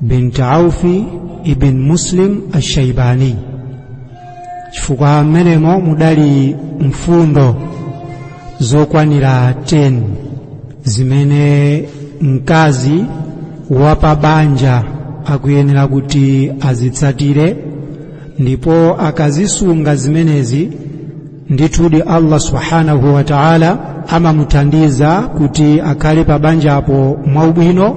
bint aufi ibn muslim ashaibani chifukwa mmenemo mudali mfundo zokwanira 10 zimene mkazi wa pa banja akuyenera kuti azitsatire ndipo akazisunga zimenezi ndithudi allah subhanahu wa taala amamuthandiza kuti akhale pa banjapo mwaubwino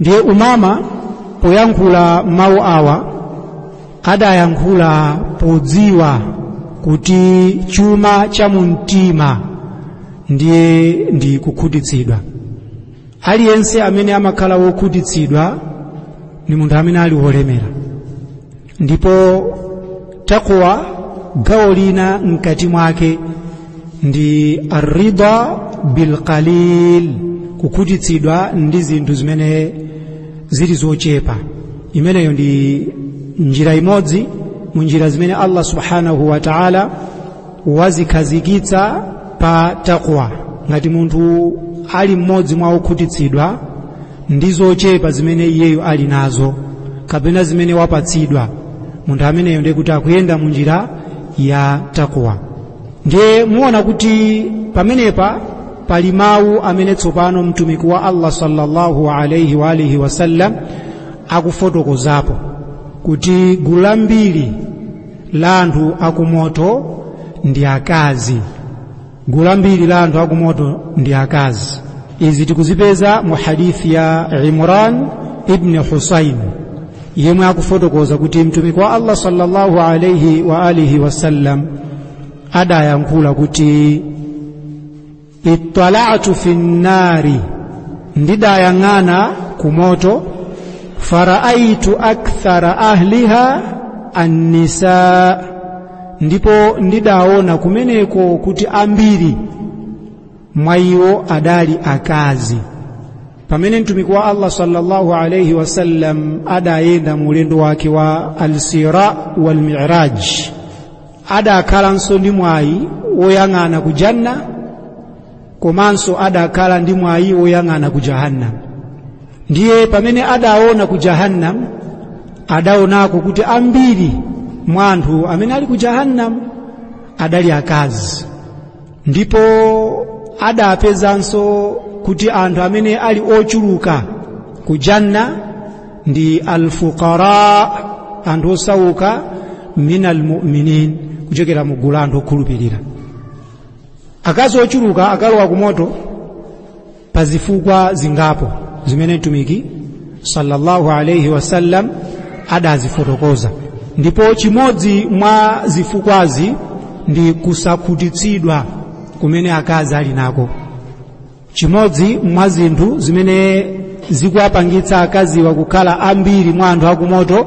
ndiye umama poyankhula mawu awa adayankhula podziwa kuti chuma cha mumtima ndiye ndi kukhutitsidwa aliyense amene amakhala wokhutitsidwa ni munthu amene ali wolemera ndipo taqwa gawo lina mkati mwake ndi arrida bilqalil kukhutitsidwa ndi zinthu zimene zili zochepa imeneyo ndi njira imodzi mu njira zimene allah subhanahu wa taala wazikhazikitsa pa takwa ngati munthu ali mmodzi mwa okhutitsidwa ndi zochepa zimene iyeyo ali nazo kapena zimene wapatsidwa munthu ameneyo ndiye kuti akuyenda mu njira ya takwa ndiye muona kuti pamenepa pali mawu amene tsopano mtumiki wa allah sallallahu alaihi wa alihi wasallam akufotokozapo kuti gulu lambiri la anthu akumoto ndi akazi gulu lambiri la anthu akumoto ndi akazi izi tikuzipeza mu hadithi ya imran ibni husain yemwe akufotokoza kuti mtumiki wa allah sallallahu alaihi wa alihi wasallam adayankhula kuti ittala'tu fi nnari ndidayang'ana kumoto faraaitu akthara ahliha annisa ndipo ndidaona kumeneko kuti ambiri mwa iwo adali akazi pamene mtumiki wa allah sallallahu alaihi wasallam adayenda mu ulendo wake wa alisra walmiraj adakhalanso ndi mwayi woyang'ana ku janna komanso adakhala ndi mwayi woyang'ana ku jahannam ndiye pamene adaona ku jahannam adaonako kuti ambiri mwa anthu amene ali ku jahannam adali akazi ndipo adapezanso kuti anthu amene ali ochuluka ku janna ndi alfuqara anthu osauka min almuminin kuchokera mu gulu la anthu okhulupirira akazi ochuluka akalowa ku moto pa zifukwa zingapo zimene mtumiki sallallahu alaihi wasallam adazifotokoza ndipo chimodzi mwa zifukwazi ndi kusakhutitsidwa kumene akazi ali nako chimodzi mwa zinthu zimene zikuwapangitsa akaziwa kukhala ambiri mwa anthu akumoto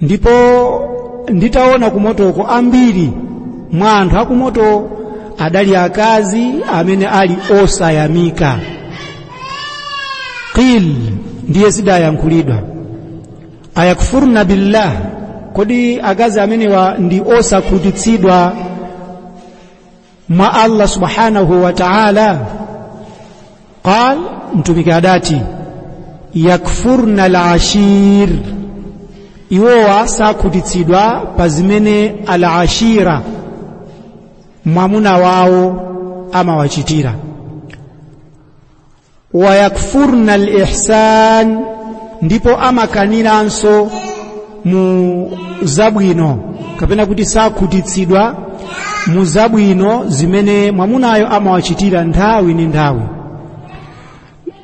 ndipo nditaona kumotoko ambiri mwa anthu akumoto adali akazi amene ali osayamika qil ndiye zidayankhulidwa ayakfurna billah kodi akazi amenewa ndi osakhutitsidwa mwa Allah subhanahu wa ta'ala qal mtumiki adati yakfurna alashir iwo sakhutitsidwa pa zimene alashira mwamuna wawo amawachitira wayakfurna alihsan ndipo amakaniranso mu zabwino kapena kuti sakhutitsidwa mu zabwino zimene mwamunayo amawachitira nthawi ndi nthawi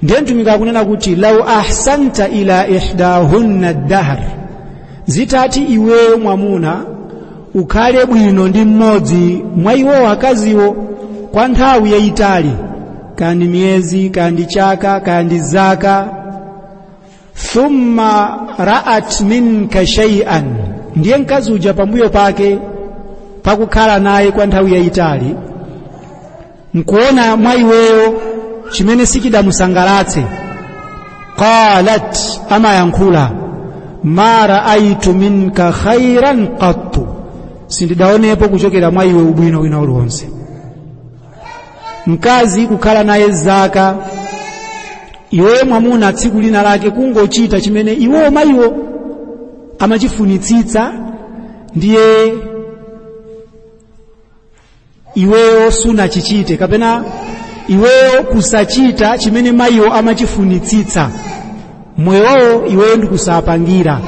ndiye mtumiki akunena kuti lau ahsanta ila ihdahunna dahr zitati iweyo mwamuna ukhale bwino ndi mmodzi mwa iwowo akaziwo kwa nthawi yayitali kaya ndi miyezi kaya ndi chaka kaya ndi zaka thumma ra'at minka shay'an ndiye mkazi uja pambuyo pake pakukhala naye kwa nthawi yayitali nkuona mwa iweyo chimene sichidamusangalatse qalat amayankhula ma raaitu minka khairan qattu sindidaonepo kuchokera mwa iwe ubwino wina uliwonse mkazi kukhala naye zaka iweyo mwamuna tsiku lina lake kungochita chimene iwo mayiwo amachifunitsitsa ndiye iweyo sunachichite kapena iweyo kusachita chimene mayiwo amachifunitsitsa mmoyo mwawo iweyo ndikusawapangira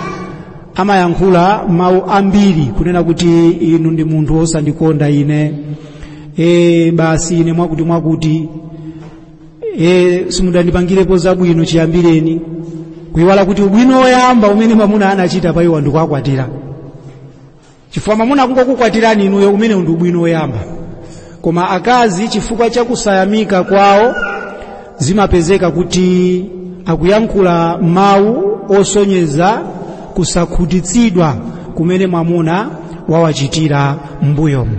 amayankhula mawu ambiri kunena kuti inu ndi munthu wosandikonda ine e, basi ine mwakuti mwakuti e, simudandipangirepo zabwino chiyambireni kuyiwala kuti ubwino woyamba umene mwamuna anachita pa iwo ndi kuwakwatira chifukwa mwamuna kungokukwatirani inuyo umenewo ndi ubwino woyamba koma akazi chifukwa cha kusayamika kwawo zimapezeka kuti akuyankhula mawu osonyeza kusakhutitsidwa kumene mwamuna wawachitira m'mbuyomu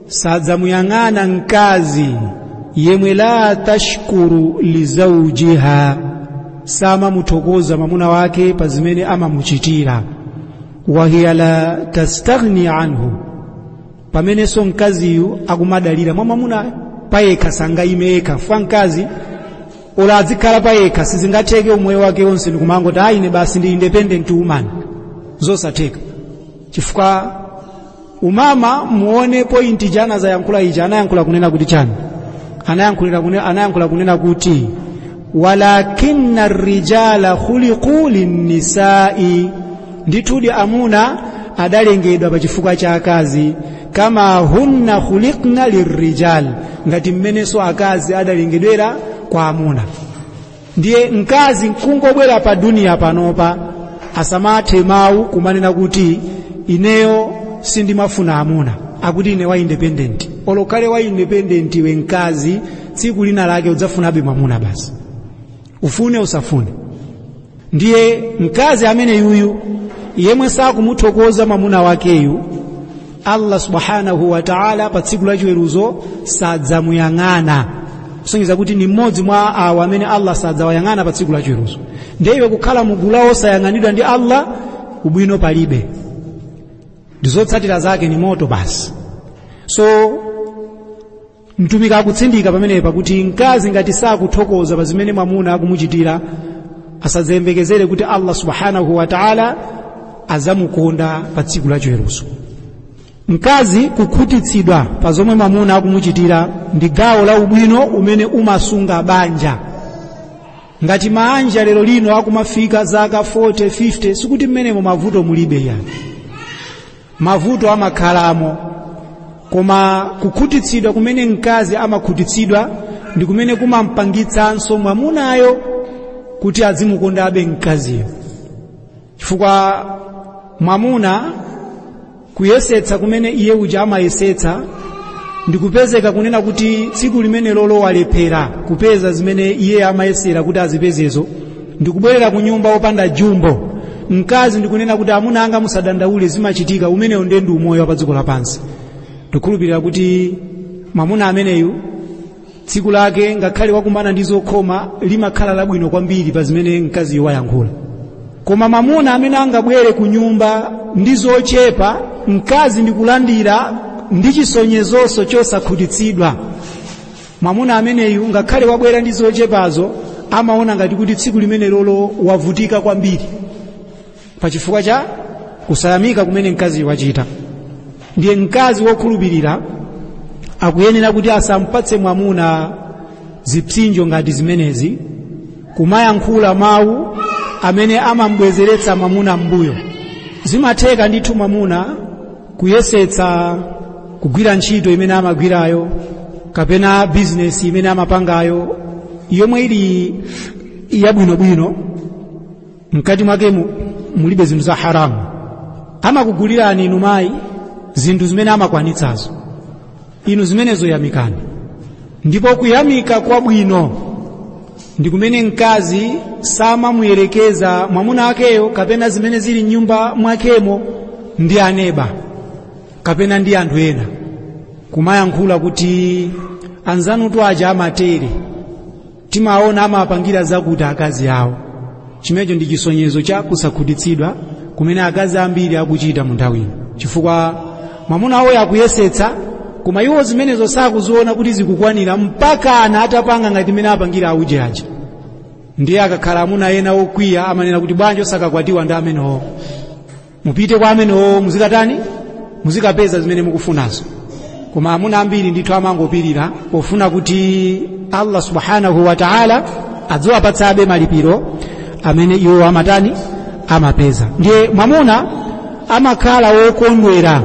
sadzamuyang'ana mkazi yemwe la tashkuru lizaujiha samamuthokoza mamuna wake pa zimene amamuchitira wahiya la tastaghni anhu pamenenso mkaziyu akumadalira mwa mamuna payekha sangayime yekha chifukwa mkazi olo adzikhala payekha sizingatheke umoyo wake wonse ndikumangoti ayi ine basi ndi independent woman zosatheka chifukwa umama muone pointi chimene anazayankhula ichi anayankhula kunena kuti chani anayankhulira kune- anayankhula kunena kuti walakinna rijala khuliqu linnisai ndithudi amuna adalengedwa pa chifukwa cha akazi kama hunna khuliqna lirijal ngati mmenenso akazi adalengedwera kwa amuna ndiye mkazi nkungobwera pa duniya panopa asamathe mawu kumanena kuti ineyo sindimafuna amuna akuti ine wa independent olo ukhale wa independent iwe mkazi tsiku lina lake udzafunabe mwamuna basi ufune usafune ndiye mkazi amene yuyu yemwe sakumuthokoza mwamuna wakeyu allah subhanahu wa taala pa tsiku la chiweruzo sadzamuyang'ana kusonyeza kuti ni mmodzi mwa awo amene allah sadzawayang'ana pa tsiku la chiweruzo ndiye iwe kukhala mu gulu la osayang'anidwa ndi allah ubwino palibe ndiye zotsatira zake ni moto basi so mtumiki akutsindika pamenepa kuti mkazi ngati sakuthokoza pa zimene mwamuna akumuchitira asadzayembekezere kuti allah subhanahu wa taala azamukonda pa tsiku la chiweruzo mkazi kukhutitsidwa pa zomwe mwamuna akumuchitira ndi gawo la ubwino umene umasunga banja ngati maanja lero lino akumafika zaka 40 50 sikuti mmenemo mavuto mulibe ayi mavuto amakhalamo koma kukhutitsidwa kumene mkazi amakhutitsidwa ndi kumene kumampangitsanso mwamunayo kuti azimukondabe mkaziyo chifukwa mwamuna kuyesetsa kumene iye uja amayesetsa ndikupezeka kunena kuti tsiku limene lolo walephera kupeza zimene iye amayesera kuti azipezezo ndikubwerera ku nyumba wopanda jumbo mkazi ndikunena kuti amuna anga musadandaule zimachitika umenewo ndiye ndi umoyo wa pa dziko lapansi ndikhulupirira kuti mwamuna ameneyu tsiku lake ngakhale wakumana ndi zokhoma limakhala labwino kwambiri pa zimene mkaziyo wayankhula koma mwamuna amene angabwere ku nyumba ndi zochepa mkazi ndikulandira ndi chisonyezonso chosakhutitsidwa mwamuna ameneyu ngakhale wabwera ndi zochepazo amaona ngati kuti tsiku limene lolo wavutika kwambiri pachifukwa cha kusayamika kumene mkazi wachita ndiye mkazi wokhulupirira akuyenera kuti asampatse mwamuna zipsinjo ngati zimenezi kumayankhula mawu amene amambwezeretsa mwamuna m'mbuyo zimatheka ndithu mwamuna kuyesetsa kugwira ntchito imene amagwirayo kapena bizinesi imene amapangayo yomwe ili yabwinobwino mkati mwake mulibe zinthu za haramu amakugulirani inu mayi zinthu zimene amakwanitsazo inu zimenezo yamikani ndipo kuyamika kwabwino ndi kumene mkazi samamuyerekeza mwamuna wakeyo kapena zimene zili mnyumba mwakemo ndi aneba kapena ndi anthu ena kumayankhula kuti anzanutu aja amatere timaona amawapangira zakuti akazi awo chimenecho ndi chisonyezo cha kusakhutitsidwa kumene akazi ambiri akuchita mu nthawi ino chifukwa mwamuna wawo akuyesetsa koma iwo zimenezo sakuziona kuti zikukwanira mpakana atapanga ngati imene apangira auje aja ndiye akakhala amuna ena okwiya amanena kuti bwanji osakakwatiwa ndi amenewo mupite kwa amenewo muzikatani muzikapeza zimene mukufunazo koma amuna ambiri ndithu amangopirira pofuna kuti allah subhanahu wa taala adziwapatsabe malipiro amene iwo amatani amapeza ndiye mwamuna amakhala wokondwera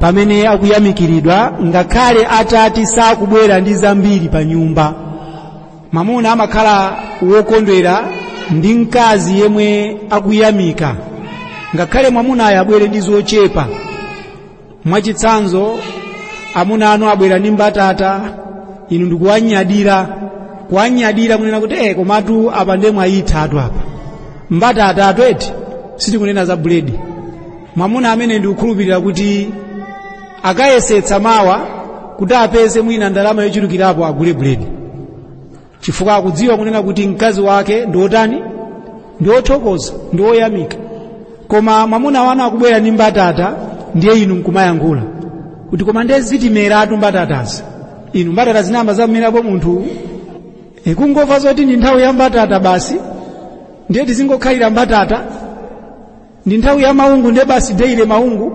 pamene akuyamikiridwa ngakhale atati sakubwera ndi zambiri pa nyumba mwamuna amakhala wokondwera ndi mkazi yemwe akuyamika ngakhale mwamunayo abwere ndi zochepa mwachitsanzo amuna anu abwera ndi mbatata inu ndikuwanyadira kuwanyadira kunena kuti eh komatu apa ndiye mwayithatu apa mbatatatu eti sitikunena za buledi mwamuna amene ndikukhulupirira kuti akayesetsa mawa kuti apeze mwina ndalama yochulukirapo agule buledi chifukwa akudziwa kunena kuti mkazi wake ndi wotani ndi wothokoza ndi woyamika koma mwamuna wanu akubwera ndi mbatata ndiye inu nkumayankhula kuti koma ndiye zitimeratu mbatatazi inu mbatata zinayamba zamerapo munthu kungomva zoti ndi nthawi ya mbatata basi ndiye tizingokhalira mbatata ndi nthawi ya maungu ndiye basi deile maungu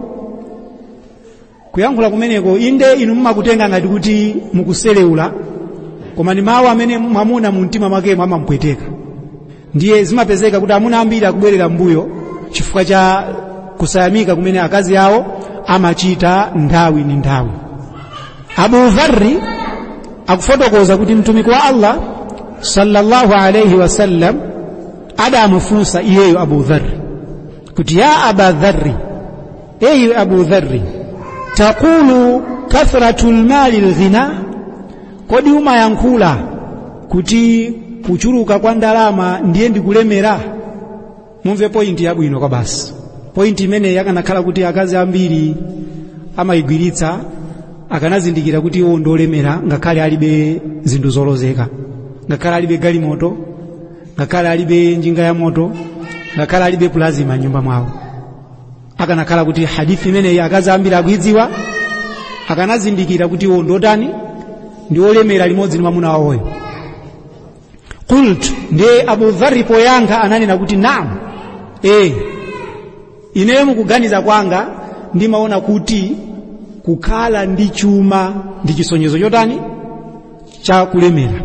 kuyankhula kumeneko inde inu mumakutenga ngati kuti mukuseleula koma ndi mawu amene mwamuna mu mtima mwakemo amamupweteka ndiye zimapezeka kuti amuna ambiri akubwerera mbuyo chifukwa cha kusayamika kumene akazi awo amachita nthawi ndi nthawi abu dharri akufotokoza kuti mtumiki wa allah sallallahu alaihi wasallam adamufunsa iyeyo abu dharri kuti ya aba dharri eyi abu dharri taqulu kathratu lmali lghina kodi umayankhula kuti kuchuluka kwa ndalama ndiye ndikulemera mumve pointi yabwino kwabasi pointi imeneyi akanakhala kuti akazi ambiri amayigwiritsa akanazindikira kuti iwo ndolemera ngakhale alibe zinthu zolozeka ngakhale alibe galimoto ngakhale alibe njinga ya moto ngakhale alibe pulazima m'nyumba mwawo akanakhala kuti hadithi imeneyi akazi ambiri akuidziwa akanazindikira kuti iwo ndotani ndi olemera limodzi ndi mwamuna wawoyo qultu ndiye abu dhari poyankha ananena kuti naam ineyo mukuganiza kwanga ndimaona kuti kukhala ndi chuma ndi chisonyezo chotani cha kulemera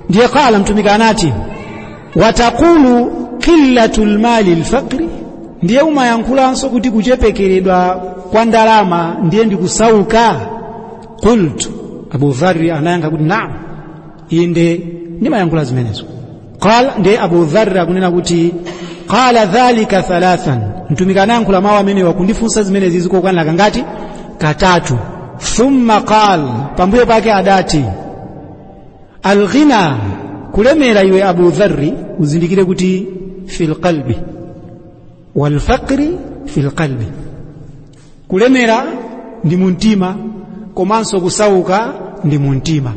ndiye qala mtumiki anati wataqulu qillatu lmali lfaqri ndiye umayankhulanso kuti kuchepekeredwa kwa ndalama ndiye ndikusauka qultu abu dharri anayankha kuti naam inde ndimayankhula zimenezo qala ndiye abu dharri akunena kuti qala dhalika thalathan mtumiki anayankhula mawu amenewa kundifunsa zimenezi zikukwanira kangati katatu thumma qal pambuyo pake adati alghina kulemera iwe abu dharri uzindikire kuti fil qalbi wal faqri fil qalbi kulemera ndi mumtima komanso kusauka ndi mumtima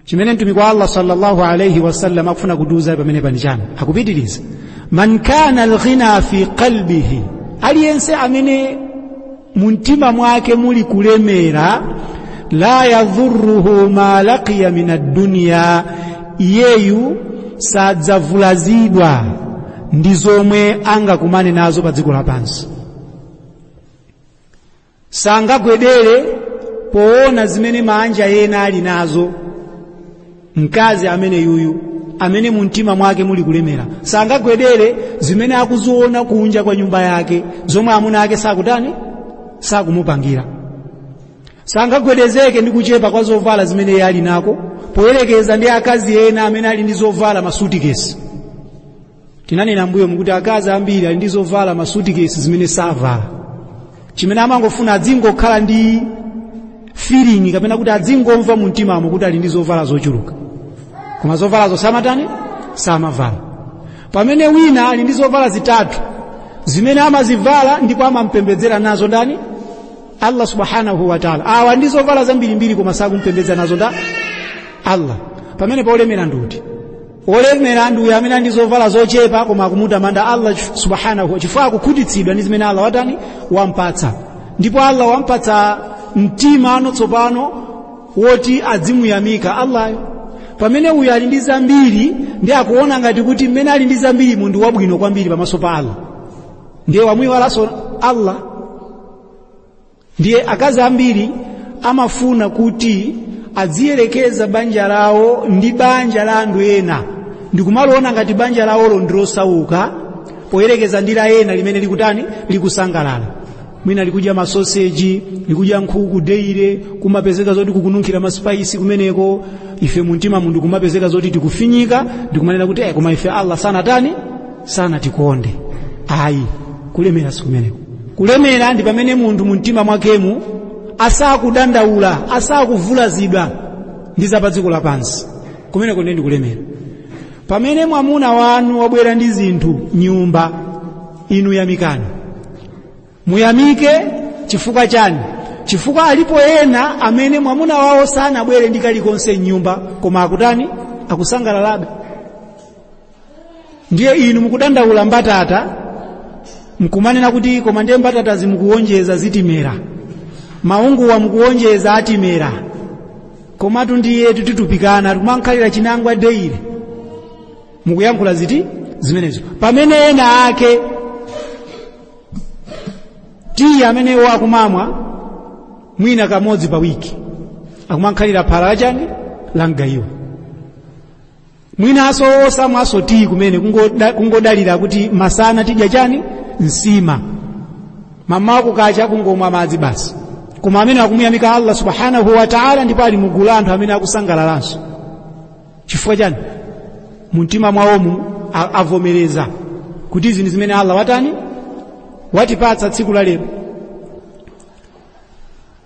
chimene mtumiki wa allah sallallahu alaihi wasallam akufuna kutiuza pamene pani chani akupitiriza man kana alghina fi qalbihi aliyense amene mumtima mwake muli kulemera la yadhuruhu ma laqiya min adduniya iyeyu sadzavulazidwa ndi zomwe angakumane nazo pa dziko lapansi sangagwedere poona zimene maanja ena ali nazo mkazi amene yuyu amene mumtima mwake muli kulemera sangagwedere zimene akuziona kunja kwa nyumba yake zomwe amuna ake sakutani sakumupangira sangagwedezeke ndi kuchepa kwa zovala zimene iye ali nako poyerekeza ndi akazi ena amene ali ndi zovala masutikesi tinanena mbuyomu kuti akazi ambiri ali ndi zovala m'masutikesi zimene savala chimene amangofuna adzingokhala ndi feeling kapena kuti adzingomva mu mtimamo kuti ali ndi zovala zochuluka koma zovalazo samatani samavala pamene wina ali ndi zovala zitatu zimene amazivala ndipo amampembedzera nazo ndani allah subhanahu wataala awa ndi zovala zambirimbiri koma sakumpembedza nazo ndani allah pamene wolemera ndi uti olemera ndi uyu amene ali ndi zovala zochepa koma akumutamanda allah chif- subhanahu wa- chifukwa akukhutitsidwa ndi zimene allah watani wampatsa ndipo allah wampatsa mtima no tsopano woti adzimuyamika allah-yo pamene uyo ali ndi zambiri ndi akuona ngati kuti mmene ali ndi zambiri munthu wabwino kwambiri pamaso pa allah ndiye wamuyiwalanso ndani allah ndiye akazi ambiri amafuna kuti adziyerekeza banja lawo ndi banja la anthu ena ndikumaliona ngati banja lawolo ndilosauka poyerekeza ndi la ena limene likutani likusangalala mwina likudya masoseji likudya nkhuku deire kumapezeka zoti kukununkhira maspaisi kumeneko ife mumtimamu ndi kumapezeka zoti tikufinyika ndikumanena kuti eh, koma ife allah sanatani sanatikonde ayi kulemera sikumeneko kulemera ndi pamene munthu mu mtima mwakemu asakudandaula asakuvulazidwa ndi za pa dziko lapansi kumeneko ndiye ndikulemera pamene mwamuna wanu wabwera ndi zinthu mnyumba inu yamikani muyamike chifukwa chani chifukwa alipo ena amene mwamuna wawo sanabwere ndi kalikonse mnyumba koma akutani akusangalalabe ndiye inu mukudandaula mbatata mkumanena kuti koma ndiye mbatatazi mukuwonjeza zitimera maunguwa mukuwonjeza atimera komatu ndiyetu titupikana tikumankhalira chinangwa deire mukuyankhula ziti zimenezo pamene ena ake tiyi ameneyo akumamwa mwina kamodzi pa wiki akumankhalira phala lachani la mgayiwa mwinanso osamwanso tiyi kumene kungoda- kungodalira kuti masana tidya chani nsima mamawa kukacha kungomwa madzi basi koma amenewa akumuyamika allah subhanahu wa taala ndipo ali mugulu la anthu amene akusangalalanso chifukwa chani mumtima mwawomu a- avomereza kuti izi ndi zimene allah watani watipatsa tsiku la lero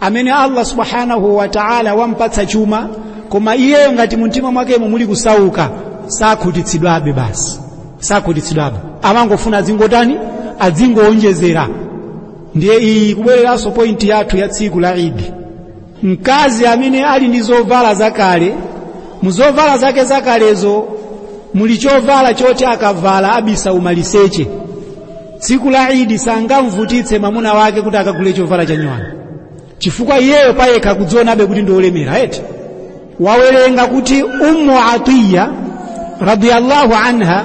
amene allah subhanahu wa ta'ala wampatsa chuma koma iyeyo ngati mumtima mwakemo muli kusauka sakhutitsidwabe basi sakhutitsidwabe amangofuna adzingotani adzingowonjezera ndiye iyi kubwereranso pointi yathu ya tsiku la idi mkazi amene ali ndi zovala zakale mu zovala zake zakalezo muli chovala choti akavala abisa umaliseche tsiku la idi sangamvutitse mwamuna wake kuti akagulire chovala cha nyuwani chifukwa iyeyo payekha akudzionabe kuti ndi olemera eti tawerenga kuti ummu atiya radiyallahu anha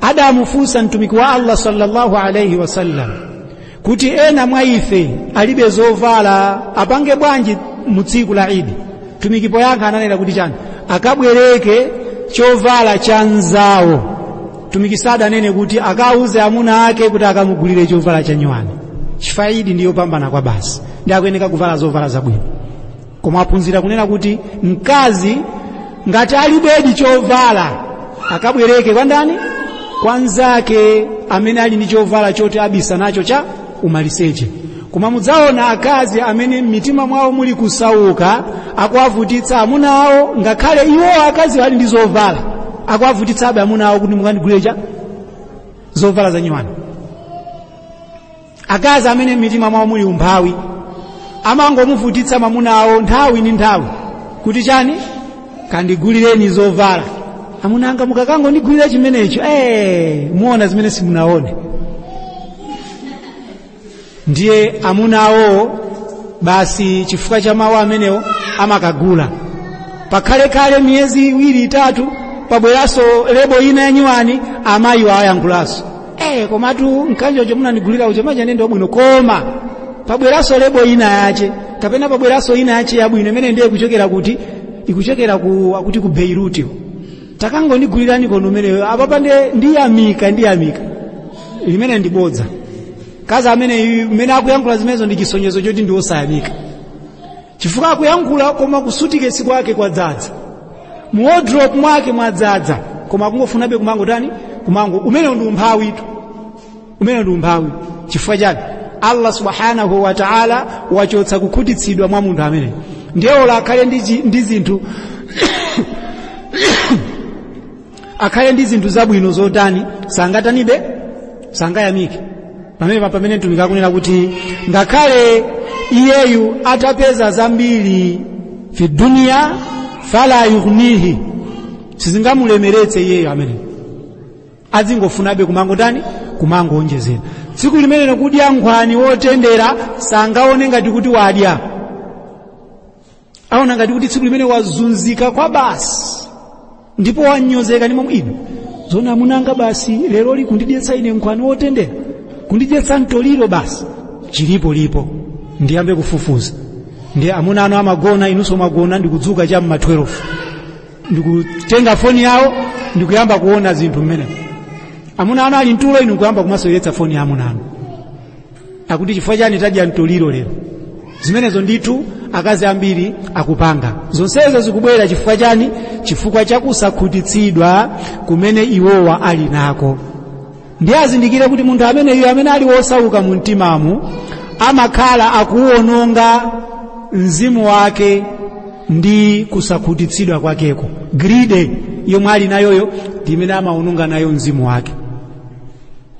adamufunsa mtumiki wa allah sallallahu alaihi wasallam kuti ena mwa ife alibe zovala apange bwanji mu tsiku la idi mtumiki poyankha ananena kuti chani akabwereke chovala cha nzawo mtumiki sadanene kuti akauze amuna ake kuti akamugulire chovala chanyuwani chifukwa idi ndi yopambana kwabasi ndi akuyeneka kuvala zovala zabwino koma taphunzira kunena kuti mkazi ngati alibedi chovala akabwereke kwa ndani kwa nzake amene ali ndi chovala choti abisa nacho cha umaliseche koma mudzaona akazi amene m'mitima mwawo muli kusauka akuwavutitsa amuna awo ngakhale iwo akaziwa ali ndi zovala akuwavutitsabe amuna awo kuti mukandigulire zovala zanyuwani akazi amene m'mitima mwawo muli umphawi amangomuvutitsa mamuna awo nthawi ndi nthawi kuti chani kandigulireni zovala amuna anga mukakangondigulire chimenecho eh muona zimene simunaone ndiye amuna awowo basi chifukwa cha mawu amenewo amakagula pakalekale miyezi iwiri itatu pabweranso lebo ina yanyuwani amayiwa ayankhulanso eh komatu mkanjocho munandigulira uja unali wabwino koma pabweranso lebo ina yache kapena pabweranso ina yache yabwino imene ndiye ikuchokera kuti ikuchokera akuti ku Beirut takangondigulirani konko umeneyo apapa nde ndiyamika ndiyamika limene ndibodza mkazi amene mmene akuyankhula zimenezi ndi chisonyezo choti ndi osayamika chifukwa akuyankhula koma kusutikesi kwake kwadzadza mu wardrobe mwake mwadzadza koma akungofunabe kumangotani kumango umenewo ndi umphawitu umene ndi umphawi chifukwa chani allah subhanahu wa taala wachotsa kukhutitsidwa mwa munthu ameneyo ndiye olo akhale ndi chi- ndi zinthu akhale ndi zinthu zabwino zotani sangatanibe sangayamike pamene pa- pamene mtumiki akunena kuti ngakhale iyeyu atapeza zambiri fi dunia fala yughnihi sizingamulemeretse iyeyo ameneyo azingofunabe kumangotani kumangoonjezera tsiku limenelo kudya nkhwani wotendera sangaone ngati kuti wadya aona ngati kuti tsiku limenelo wazunzika kwabasi ndipo wanyozeka ndi momwemo zoona amuna anga basi leroli kundidyetsa ine nkhwani wotendera kundidyetsa mtoliro basi chilipo lipo ndiyambe kufufuza ndiye amuna anu amagona inu osamagona ndikudzuka cha mma 12 ndikutenga foni yawo ndikuyamba kuona zinthu mmene amuna anu ali mtulo inu kuyamba kumasoweretsa foni ya amuna anu akuti chifukwa chani tadya mtoliro lero zimenezo ndithu akazi ambiri akupanga zonsezo zikubwera chifukwa chani chifukwa chakusakhutitsidwa kumene iwowa ali nako ndiye azindikire kuti munthu ameneyu amene ali wosauka mu mtimamo amakhala akuwononga mzimu wake ndi kusakhutitsidwa kwakeko greed yomwe ali nayoyo ndi imene amawononga nayo mzimu wake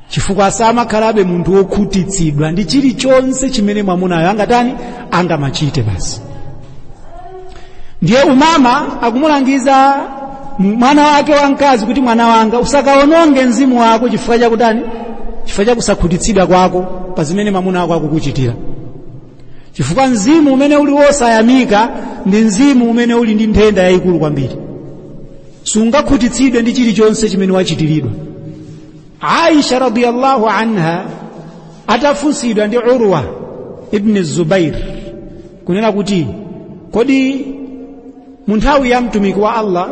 chifukwa samakhalabe munthu wokhutitsidwa ndi chilichonse chimene mwamunayo angatani angamachite basi ndiye umama akumulangiza mwana wake wamkazi kuti mwana wanga usakaononge mzimu wako chifukwa chakutani chifukwa chakusakhutitsidwa kwako pa zimene mamuna wako akukuchitira chifukwa mzimu umene uli wosayamika ndi mzimu umene uli ndi nthenda yayikulu kwambiri sungakhutitsidwe ndi chilichonse chimene wachitiridwa aisha radiyallahu anha atafunsidwa ndi urwa ibni zubair kunena kuti kodi mu nthawi ya mtumiki wa allah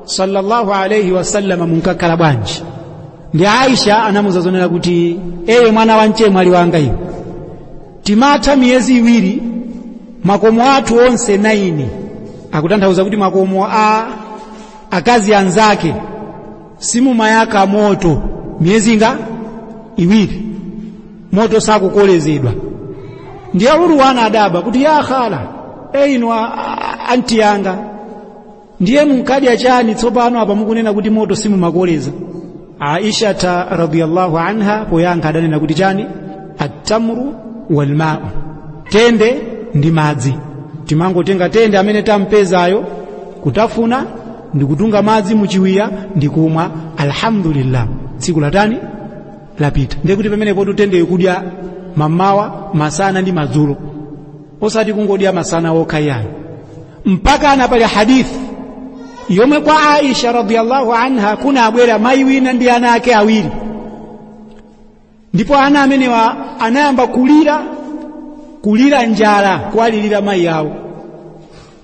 sallallahu alaihi wasallama munkakhala bwanji ndiye aisha anamuza zonena kuti ee mwana wa mchemwali wanga iwe timatha miyezi iwiri makomo athu onse naini akutanthauza kuti makomo a akazi anzake simumayaka moto miyezi ingati iwiri moto sakukolezedwa ndiye urwa anadabwa kuti ya khala ee inu anti yanga ndiye munkadya chani tsopano apa mukunena kuti moto simumakoleza aisha radiyallahu anha poyankha adanena kuti chani attamru walmau tende ndi madzi timangotenga tende amene tampezayo kutafuna ndikutunga madzi muchiwiya ndikumwa alhamdulillah tsiku latani lapita ndiye kuti pamenepotu tendeyo kudya mamawa masana ndi madzulo osati kungodya masana okha yayo mpaka kana pali hadithi yomwe kwa aisha radiyallahu anha kunabwera mayi wina ndi ana ake awiri ndipo ana amenewa anayamba kulira kulira njala kuwalilira mayi awo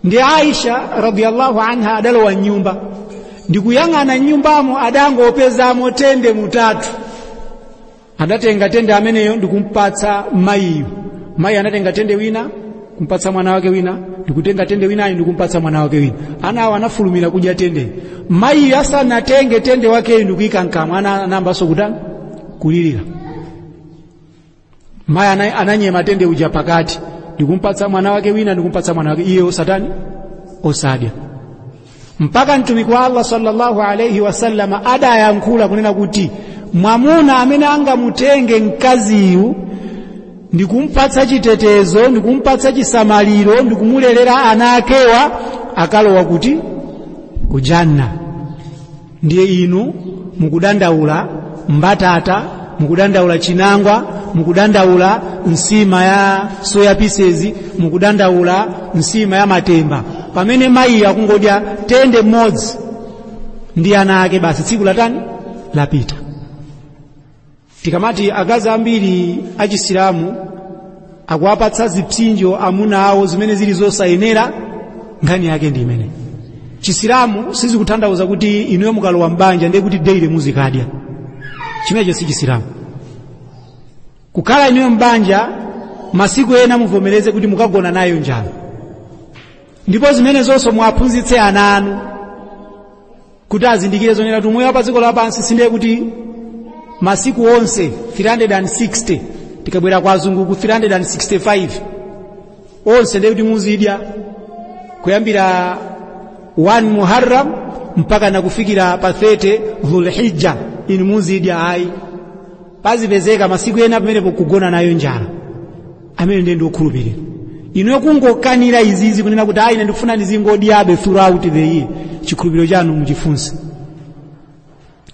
ndi aisha radiyallahu anha adalowa mnyumba ndikuyang'ana mnyumbamo adangopezamo tende mutatu adatenga tende ameneyo ndikumpatsa mayiyo mayi anatenga tende wina kumpatsa mwana wake wina ndikutenga tende winayi ndikumpatsa mwana wake wina ana awo anafulumira kudya tende mayi asanatenge tende wakeyi ndikuyika mkamwa ana anayambanso kutani kulirira mayi ana- ananyema tende uja pakati ndikumpatsa mwana wake wina ndikumpatsa mwana wake iye osatani osadya mpaka mtumiki wa allah sallallahu alaihi wasallama adayankhula kunena kuti mwamuna amene angamutenge mkaziyu ndikumpatsa chitetezo ndikumpatsa chisamaliro ndikumulelera ana akewa akalowa kuti ku janna ndiye inu mukudandaula mbatata mukudandaula chinangwa mukudandaula nsima ya soya pieces mukudandaula nsima ya matemba pamene mayiyo akungodya tende mmodzi ndi ana ake basi tsiku latani lapita tikamati akazi ambiri achisilamu akuwapatsa zipsinjo amuna awo zimene zili zosayenera nkhani yake ndi imeneyi chisilamu sizikutanthauza kuti inuyo mukalowa m'banja ndiye kuti daily muzikadya chimenecho si chisilamu kukhala inuyo m'banja masiku ena muvomereze kuti mukagona nayo njala ndipo zimenezonso muwaphunzitse ana anu kuti azindikire zonena kuti umoyo wa pa dziko lapansi sindiye kuti masiku onse 360 tikabwera kwa azungu ku 365 onse ndiye kuti muzidya kuyambira 1 muharram mpaka nakufikira pa 30 dhulhijja inu muzidya ayi pazipezeka masiku ena pamene pokugona nayo njala amene ndiye ndi okhulupirira inuyo kungokanira izizi kunena kuti ayi ine ndikufuna ndizingodyabe throughout the year chikhulupiriro chanu muchifunse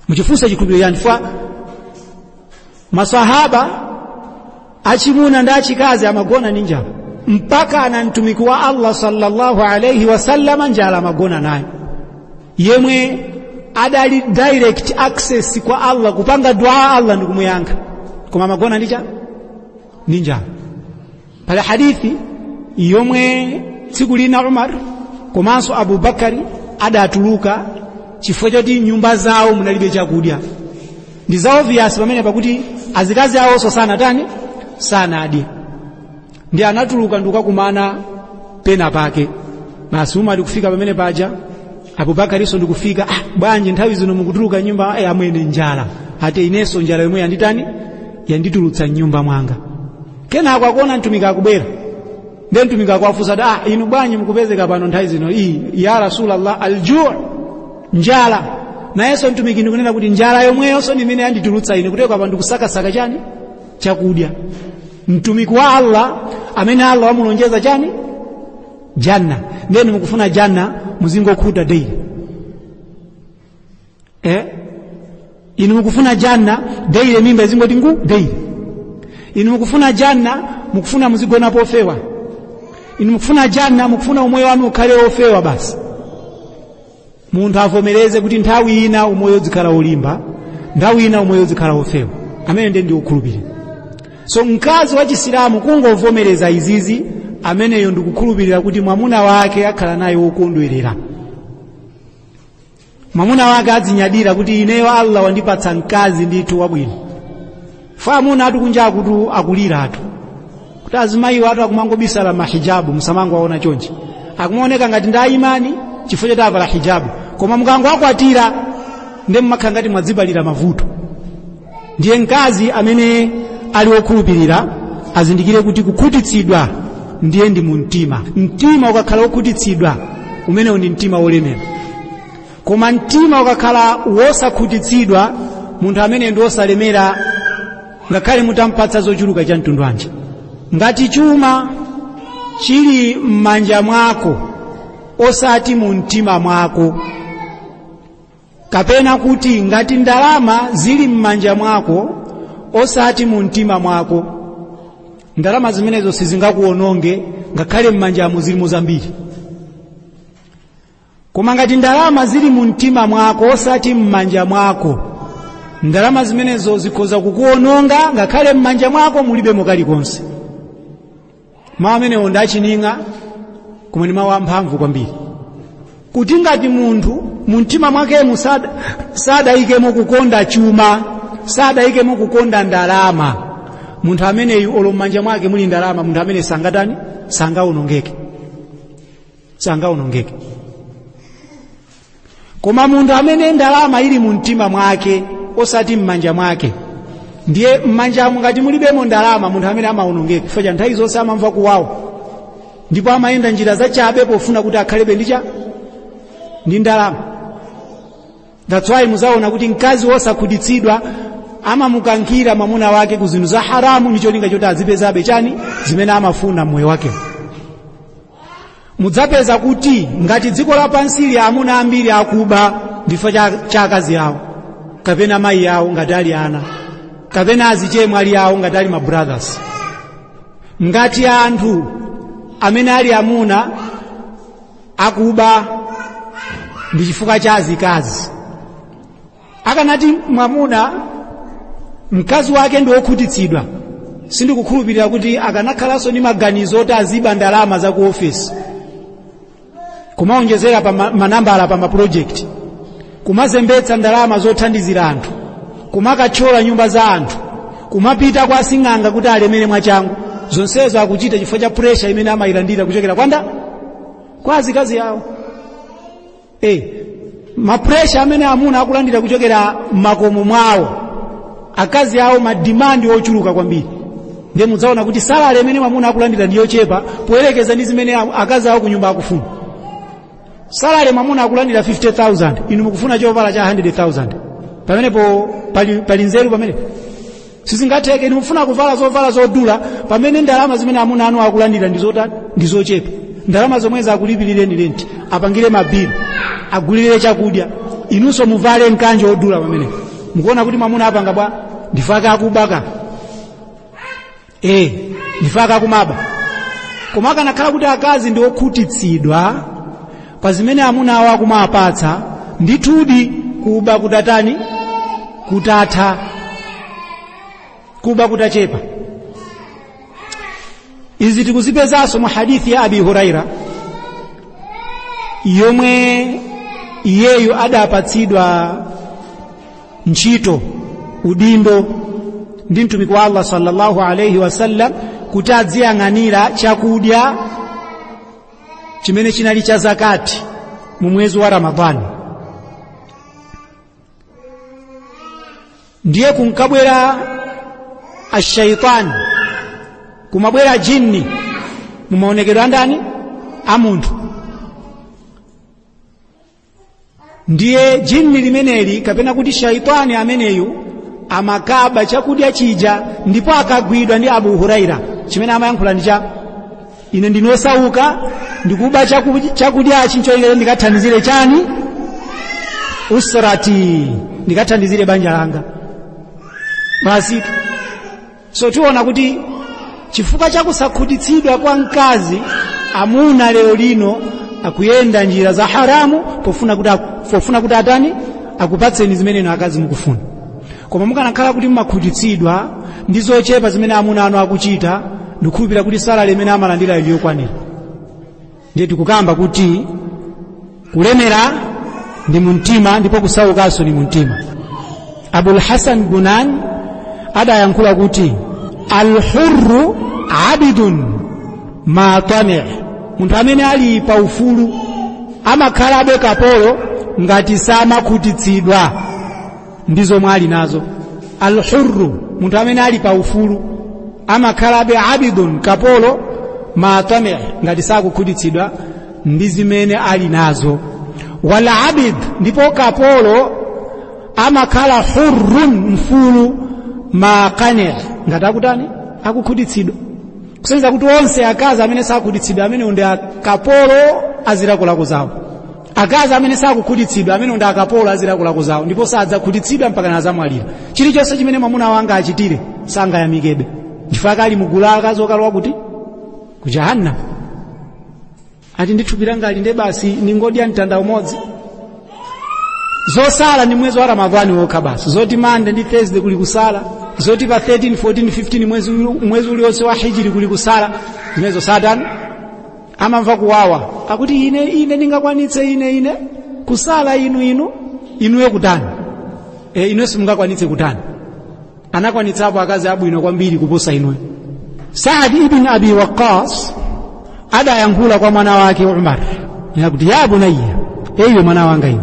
muchifunse chikhulupiriro chanu chifukwa masahaba achimuna ndi achikazi amagona ndi njala mpaka ana mtumiki wa allah sallallahu alaihi wasallama njala amagona nayo yemwe adali direct access kwa allah kupanga dua allah ndikumuyankha koma amagona ndi chani ndi njala pali hadithi yomwe tsiku lina umar komanso abubakari adatuluka chifukwa choti mnyumba zawo munalibe chakudya ndi za obvious pamene pakuti azikazi awonso sanatani sanadye ndi anatuluka ndikukakumana pena pake basi Umar kufika pamene paja Abu Bakarinso ndikufika ah, bwanji nthawi zino mukutuluka nyumba ay, amwene njala ate inenso njala yomwe yanditani yanditulutsa mnyumba mwanga kenako akuona mtumiki akubwera nde mtumiki akuwafunsa ah, inu bwanji mukupezeka pano nthawi zino iyi ya rasulallah aljuu njala nayenso mtumiki ndikunena kuti njala yomweyonso ndimene yanditulutsa ine kutoka pa ndikusakasaka chani chakudya mtumiki wa allah amene allah wamulonjeza chani janna nde inu mukufuna janna muzingokhuta daily eh? inu mukufuna janna daily mimba izingoti ngu daily inu mukufuna janna mukufuna muzigona pofewa inu mukufuna janna mukufuna umoyo wanu ukhale ofewa basi munthu avomereze kuti nthawi ina umoyo uzikhala wolimba nthawi ina umoyo uzikhala wofewa amene ndiye ndi wokhulupirira so mkazi wa chisilamu kungovomereza izizi ameneyo ndikukhulupirira kuti mwamuna wake akhala naye wokondwerera mwamuna wake azinyadira kuti ineyo allah wandipatsa mkazi ndithu wabwino fa amunatu kunja kutu akuliratu kuti azimayiwatu akumangobisala mahijabu musamangowaona chonchi akumaoneka ngati ndi a imani chifukwa choti avala hijabu koma mukangowakwatira ndiye mmakhala ngati mwadzipalira mavuto ndiye mkazi amene ali wokhulupirira azindikire kuti kukhutitsidwa ndiye ndi mu mtima mtima ukakhala wokhutitsidwa umenewo ndi mtima wolemera koma mtima ukakhala wosakhutitsidwa munthu amene ndi wosalemera ngakhale mutampatsa zochuluka cha mtundu wanji ngati chuma chili m'manja mwako osati mu mtima mwako kapena kuti ngati ndalama zili m'manja mwako osati mu mtima mwako ndalama zimenezo sizingakuwononge ngakhale m'manjamo zilimo zambiri koma ngati ndalama zili mu mtima mwako osati m'manja mwako ndalama zimenezo zikhoza kukuononga ngakhale m'manja mwako mulibemo kalikonse mawu amenewo ndi achining'a koma ndi mawu amphamvu kwambiri kuti ngati munthu mu mtima mwakemo sada- sadayikemo kukonda chuma sadayikemo kukonda ndalama munthu ameneyu olo m'manja mwake muli ndalama munthu amene sangatani sangaonongeke sangaonongeke koma munthu amene ndalama ili mu mtima mwake osati m'manja mwake ndiye m'manjamo ngati mulibemo ndalama munthu amene amaonongeka chifukwa nthawi zonse amamva kuwawa ndipo amayenda njira zachabe pofuna kuti akhalebe ndi cha ndi ndalama that's why muzaona kuti mkazi wosakhutitsidwa amamukankhira mwamuna wake ku zinthu za haramu ndi cholinga choti azipezabe chani zimene amafuna mmoyo wakewo mudzapeza kuti ngati dziko lapansi lili amuna ambiri akuba ndi chifukwa cha, cha akazi awo kapena mayi awo ngati ali ana kapena azichemwali awo ngati ali mabrothers ngati anthu amene ali amuna akuba ndi chifukwa cha azikazi akanati mwamuna mkazi wake ndi wokhutitsidwa sindikukhulupirira kuti akanakhalanso ndi maganizo oti aziba ndalama za ku ofisi kumaonjezera pa ma- manambala pa mapulojekiti kumazembetsa ndalama zothandizira anthu kumakathyola nyumba za anthu kumapita kwa asing'anga kuti alemere mwachangu zonsezo akuchita chifukwa cha puresha imene amayilandira kuchokera kwa nda kwa azikazi awo eh mapressure amene amuna akulandira kuchokera makomo mwawo akazi awo madimandi ochuluka kwambiri ndiye mudzaona kuti salary imene mwamuna akulandira ndi yochepa poyerekeza ndi zimene a- akazi awo kunyumba akufuna salary mwamuna akulandira 50000 inu mukufuna chovala cha 100000 pamenepo pali, pali nzeru pamenepo sizingatheke inu mufuna kuvala zovala zodula pamene ndalama zimene amuna anu akulandira ndi zotani ndi zochepa ndalama zomwezi akulipirireni lenti apangire mabili agulire chakudya inunso muvale mkanjo wodula pamenepo mukuona kuti mwamuna apanga bwa nchifukwa chake akubaka eh nchifukwa chake akumaba koma akanakhala kuti akazi ndi okhutitsidwa pa zimene amuna awo akumawapatsa ndithudi kuba kutatani kutatha kuba kutachepa izi tikuzipezanso mu hadithi ya abi huraira yomwe iyeyu adapatsidwa ntchito udindo ndi mtumiki wa allah sallallahu alaihi wasallam kuti adziyang'anira chakudya chimene chinali cha zakati mu mwezi wa ramadhani ndiye kunkabwera ashaitani kumabwera jinni mu maonekedwe a ndani a munthu ndiye jinni limeneli kapena kuti shaitani ameneyu amakaba chakudya chija ndipo akagwidwa ndi abu huraira chimene amayankhula ndi cha ine ndine osauka ndikuba chakudya- chakudyachi nchoyenkera ndikathandizire chani usrati ndikathandizire banja langa basi so tiona kuti chifukwa cha kusakhutitsidwa kwa mkazi amuna lero lino akuyenda njira za haramu pofuna kuti, atani akupatseni zimene inu akazi mukufuna koma mukanakhala kuti mumakhutitsidwa ndi zochepa zimene amuna anu akuchita ndikukhulupirira kuti salary imene amalandira ili yokwanira ndiye tikukamba kuti kulemera ndi mumtima ndipo kusaukanso ndi mumtima abul hasan bunan adayankhula kuti alhurru abdun ma tami munthu amene ali pa ufulu amakhalabe kapolo ngati samakhutitsidwa ndi zomwe ali nazo alhurru munthu amene ali pa ufulu amakhalabe abidun kapolo ma tami ngati sakukhutitsidwa ndi zimene ali nazo wal abdu ndipo kapolo amakhala hurrun mfulu ma qani ngati akutani akukhutitsidwa kusonyeza kuti onse akazi amene sakhutitsidwa amene ndi akapolo a zilakolako zawo akazi amene sakukhutitsidwa amene ndi akapolo a zilakolako zawo ndipo sadzakhutitsidwa mpaka nazamwalira chilichonse chimene mwamuna angawachitire sangayamikebe chifukwa ali mugulu la akazi okalowa kuti ku jahannam ati ndithupi langa ali nde basi ndingodya mtanda umodzi zosala ndi mwezi wa ramadhani wokha basi zoti monday ndi thursday kuli kusala zoti pa 13 14 15 mwezi, mwezi uliwonse wa hijri kuli kusala zimenezo satani amamva kuwawa akuti ine ine ndingakwanitse ine ine kusala inu inu inuyo kutani e, inuyo simungakwanitse kutani anakwanitsapo akazi abwino kwambiri kuposa inuyo saad ibn abi waqqas adayankhula kwa mwana wake umar akuti ya bunayya ee iwe mwana wanga iwe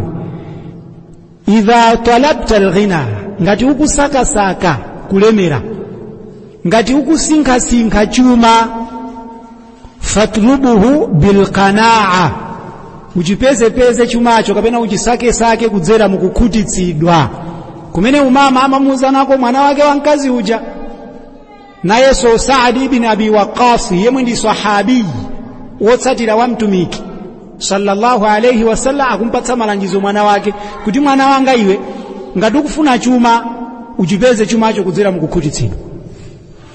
idha talabta alghina ngati ukusakasaka kulemera ngati ukusinkhasinkha chuma fatlubuhu bilqanaa uchipezepeze chumacho kapena uchisakesake kudzera mukukhutitsidwa komwe mayi amamuuzanako mwana wake wa mkazi uja nayenso saadi ibn abi waqqas yemwe ndi sahabiyi wotsatira wa mtumiki sallallahu alaihi wasallam akumpatsa malangizo mwana wake kuti mwana wanga iwe ngati ukufuna chuma uchipeze chumacho kudzera mukukhutitsidwa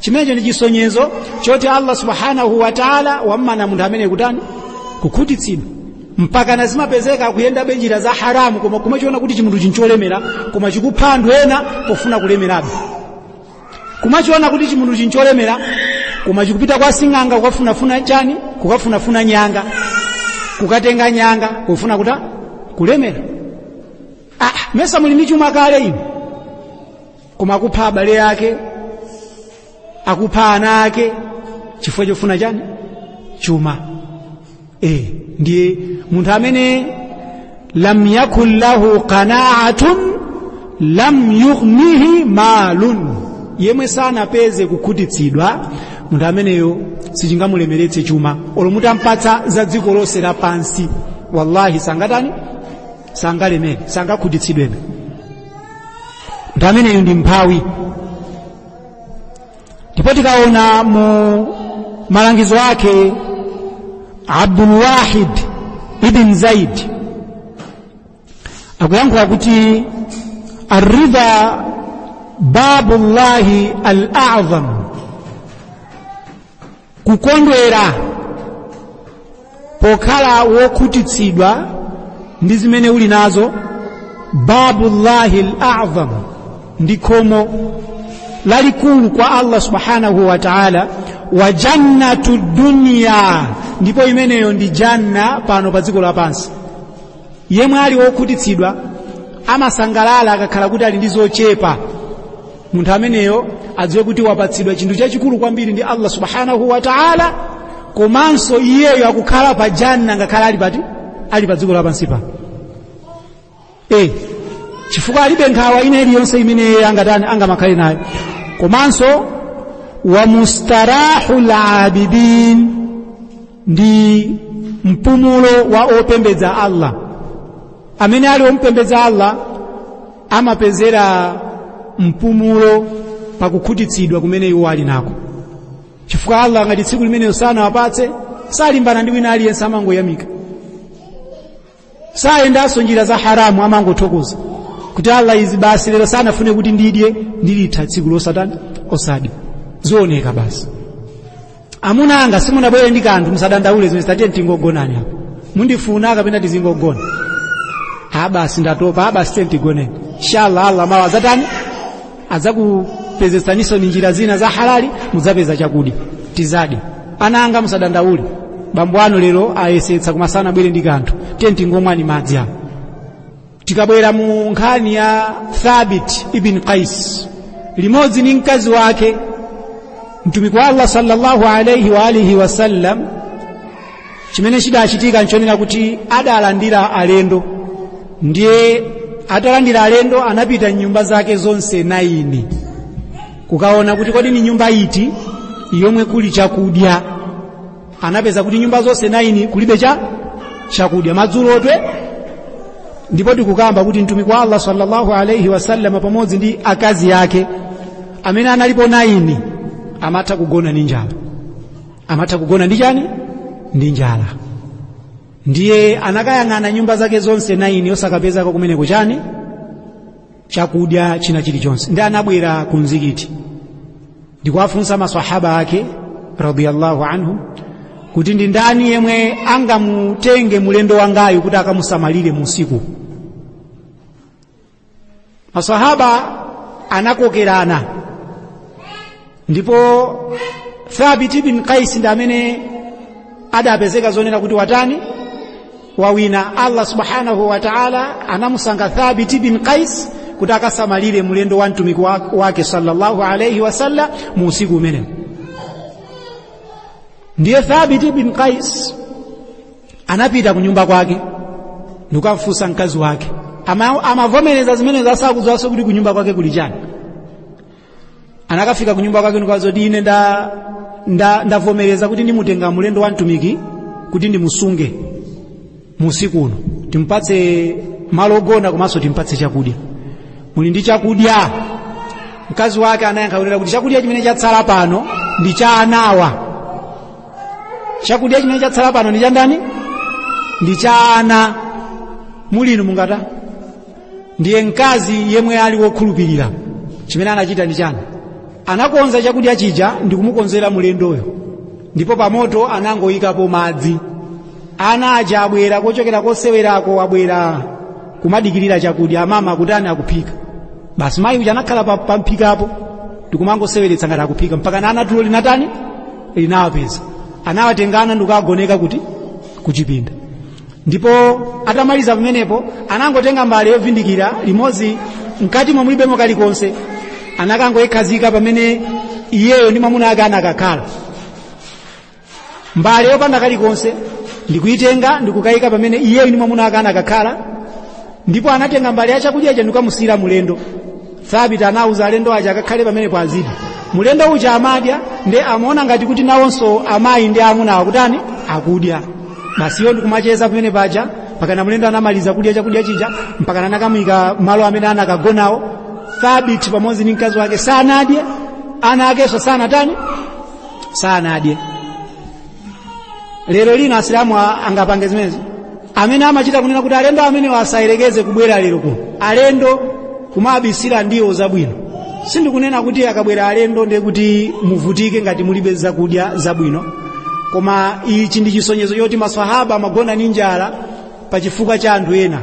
chimenecho ndi chisonyezo choti allah subhanahu wa taala wammana munthu amene kutani kukhutitsidwa mpaka na zimapezeka akuyendabe njira za haramu koma kumachiona kuti chimunthu chincholemera koma chikupha anthu ena pofuna kulemerabe kumachiona kuti chimunthu chincholemera koma chikupita kwa sing'anga kukafunafuna chani kukafunafuna nyanga kukatenga nyanga kufuna kutani kulemera ah, mesa muli ndi chuma kale inu koma akupha abale yake akupha ana ake chifukwa chofuna chani chuma e, ndiye munthu amene lam yakun lahu qanaatun lam yughnihi malun yemwe sanapeze kukhutitsidwa munthu ameneyo sichingamulemeretse chuma olo mutampatsa za dziko lonse lapansi wallahi sangatani sangalemere sangakhutitsidwebe munthu ameneyo ndi mphawi ndipo tikaona mu malangizo ake abdulwahid ibn zaid akuyankhula kuti arridha babullahi al-a'zam kukondwera pokhala wokhutitsidwa ndi zimene uli nazo babullahi al-a'zam ndi khomo lalikulu kwa Allah subhanahu wa ta'ala wa jannatu dunya ndipo imeneyo ndi janna pano pa dziko lapansi yemwe ali wokhutitsidwa amasangalala akakhala kuti ali ndi zochepa munthu ameneyo adziwe kuti wapatsidwa chinthu chachikulu kwambiri ndi allah subhanahu wa taala komanso iyeyo akukhala pa janna ngakhale ali pati ali pa dziko lapansi pano e chifukwa alibe nkhawa ina iliyonse imene iye angatani angamakhale nayo komanso wa mustarahul abidin ndi mpumulo wa opembedza allah amene ali ompembedza allah amapezera mpumulo pakukhutitsidwa kumene iwo ali nako chifukwa allah ngati tsiku limenelo sanawapatse salimbana ndi wina aliyense amangoyamika sayendanso njira za haramu amangothokoza kuti allah izi basi lero sanafune kuti ndidye ndilitha tsiku losatani osadya zioneke basi amuna anga simunabwere ndi kanthu musadandaule zimene zatani tiye tingogonani apo mundifuna kapena tizingogona basi ndatopa basi tiyeni tigoneni inshallah allah mawa adzatani adzakupezetsaninso ni njira zina za halali mudzapeza chakudya tidzadya ana anga musadandaule bambo anu lero ayesetsa koma sanabwere ndi kanthu tiyeni tingomwani madzi apo tikabwera mu nkhani ya thabit ibn qais limodzi ndi mkazi wake mtumiki wa allah sallallahu alaihi wa alihi wasallam chimene chidachitika nchonena kuti adalandira alendo ndiye atalandira alendo anapita mnyumba zake zonse naini kukaona kuti kodi ni nyumba iti yomwe kuli chakudya anapeza kuti nyumba zonse naini kulibe cha chakudya madzulotu ndipo tikukamba kuti mtumiki wa allah sallallahu alaihi wasallam pamodzi ndi akazi ake amene analipo naini amatha kugona ndi njala amatha kugona ndi chani ndi njala ndiye anakayang'ana nyumba zake zonse naini osakapezako kumeneko chani chakudya china chilichonse ndi anabwera ku mzikiti ndikuwafunsa masahaba ake radiyallahu anhu kuti ndi ndani yemwe angamutenge mulendo wangayu kuti akamusamalire musiku masahaba anakokerana ndipo thabit bin qais ndi amene adapezeka zonena kuti watani wawina allah subhanahu wa taala anamusankha thabit bin qais kuti akasamalire mlendo wa mtumiki wake sallallahu alaihi wasallam mu usiku umene ndiye thabit bin qais anapita ku nyumba kwake ndikukamfunsa mkazi wake amavomereza zimenezo asakudziwanso kuti ku nyumba kwake kuli chani anakafika kunyumba kwake ndikuwauza kuti ine ndavomereza kuti ndimutenga mulendo wa mtumiki kuti ndimusunge musiku uno timpatse malo ogona komanso timpatse chakudya muli ndi chakudya mkazi wake anayankha kunena kuti chakudya chimene chatsala pano ndi cha anawa chakudya chimene chatsala pano ndi cha ndani ndi cha ana mulimo mungatani ndiye mkazi yemwe ali wokhulupirira chimene anachita ndi chani anakonza chakudya chija ndi kumukonzera mlendoyo ndipo pamoto anangoyikapo madzi ana aja abwera kochokera kosewerako abwera kumadikirira chakudya amama kutani akuphika basi mayi uja anakhala pamphikapo ndikumangoseweretsa ngati akuphika mpakana ana tulo linatani linawapeza anawatenga ana ndikukagoneka kuti kuchipinda ndipo atamaliza pamenepo anangotenga mbale yovindikira limodzi mkati mwamo mulibemo kalikonse anakangoyikhazika pamene iyeyo ndi mwamuna ake anakakhala mbale yopanda kalikonse ndikuyitenga ndikukayika pamene iyeyo ndi mwamuna ake anakakhala ndipo anatenga mbale ya chakudya ija ndikukamusiyira mulendo thabiti anauza alendo aja akakhale pamenepa azidya mulendo uja amadya nde amaona ngati kuti nawonso amayi ndi amuna akutani akudya basi iyo ndikumacheza pamene paja mpakana mulendo anamaliza kudya chakudya chija mpakana anakamuyika malo amene anakagonawo thabiti pamodzi ndi mkazi wake sanadye ana akenso sanatani sanadye lero lino asilamu angapange zimenezi amene amachita kunena kuti alendo amenewo asayerekeze kubwera lero kuno alendo kumabisira ndiwo zabwino sindikunena kuti akabwera alendo ndiye kuti muvutike ngati mulibe zakudya zabwino koma ichi ndi chisonyezo choti maswahaba amagona ndi njala pa chifukwa cha anthu ena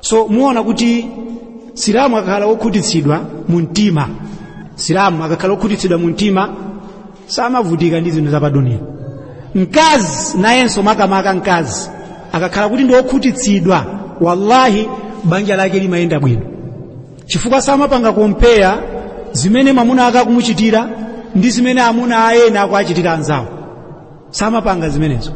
so muona kuti silamu akakhala wokhutitsidwa mu mtima silamu akakhala wokhutitsidwa mu mtima samavutika ndi zinthu zapaduniya mkazi nayenso makamaka mkazi akakhala kuti ndi wokhutitsidwa wallahi banja lake limayenda bwino chifukwa samapanga kompeya zimene mwamuna ake akumuchitira ndi zimene amuna ena akuachitira anzawo samapanga zimenezo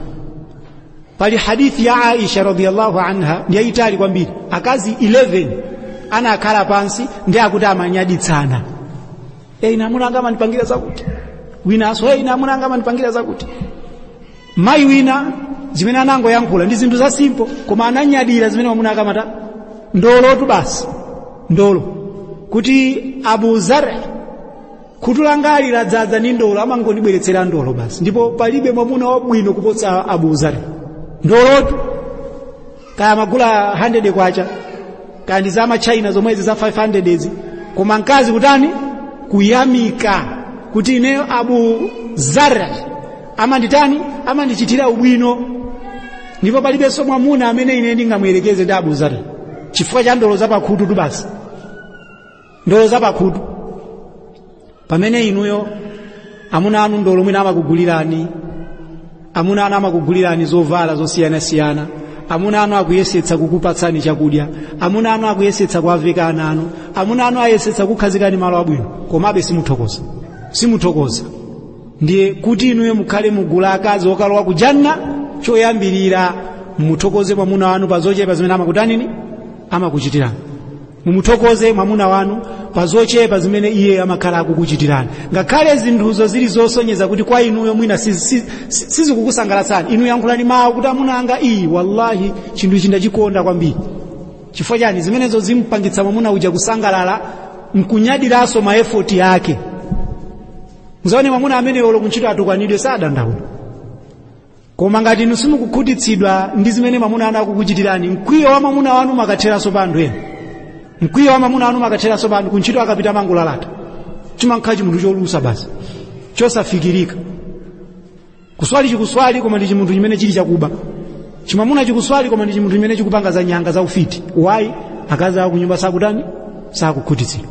pali hadithi ya aisha radhiyallahu anha ndiyayitali kwambiri akazi 11 anakhala pansi ndi akuti amanyaditsana e ine amuna anga amandipangira zakuti winanso e ine amuna anga amandipangira zakuti mayi wina zimene anangoyankhula ndi zinthu za simple koma ananyadira zimene mwamuna ake amata ndolotu basi ndolo kuti abu zar khutu langali ladzadza ndi ndolo amangondibweretsera ndolo basi ndipo palibe mwamuna wabwino kuposa abu zar ndolotu kaya magula 100 kwacha kaya ndi zamachaina zomwezi za 500 ezi koma mkazi kutani kuyamika kuti ineyo abu zar amanditani amandichitira ubwino ndipo palibenso mwamuna amene ine ndingamuyerekeze ndi abu zar chifukwa cha ndolo zapakhutu tu basi ndolo zapakhutu pamene inuyo amuna anu ndolo mwina amakugulirani amuna anu amakugulirani zovala zosiyanasiyana amuna anu akuyesetsa kukupatsani chakudya amuna anu akuyesetsa kuwaveka ana anu amuna anu ayesetsa kukhazikani malo abwino komabe simuthokoza ndiye kuti inuyo mukhale mugulu la akazi okalowa ku janna choyambirira muthokoze mwamuna wanu pa zochepa zimene amakutanini amakuchitirani mumuthokoze mwamuna wanu pa zochepa zimene iye amakhala akukuchitirani ngakhale zinthuzo zili zosonyeza kuti kwa inuyo mwina sizikukusangalatsani inu yankhulani mawu kuti amuna anga iyi wallahi chinthu ichi ndachikonda kwambiri chifukwa chani zimenezo zimpangitsa mwamuna uja kusangalala mkunyadiranso maefoti yake muzaone mwamuna amene olo kuntchito atukwanidwe sadandaula koma ngati inu simukukhutitsidwa ndi zimene mwamuna wanu akukuchitirani mkwiyo wa mwamuna wanu umakatheranso pa anthu ena mkwiyo wa mwamuna wanu umakatheranso pa anthu kuntchito akapita amangolalata chimankhala chimunthu cholusa basi chosafikirika kuswali chikuswali koma ndi chimunthu chimene chili chakuba chimamuna chikuswali koma ndi chimunthu chimene chikupanga za nyanga za ufiti why akazi awo kunyumba sakutani sakukhutitsidwa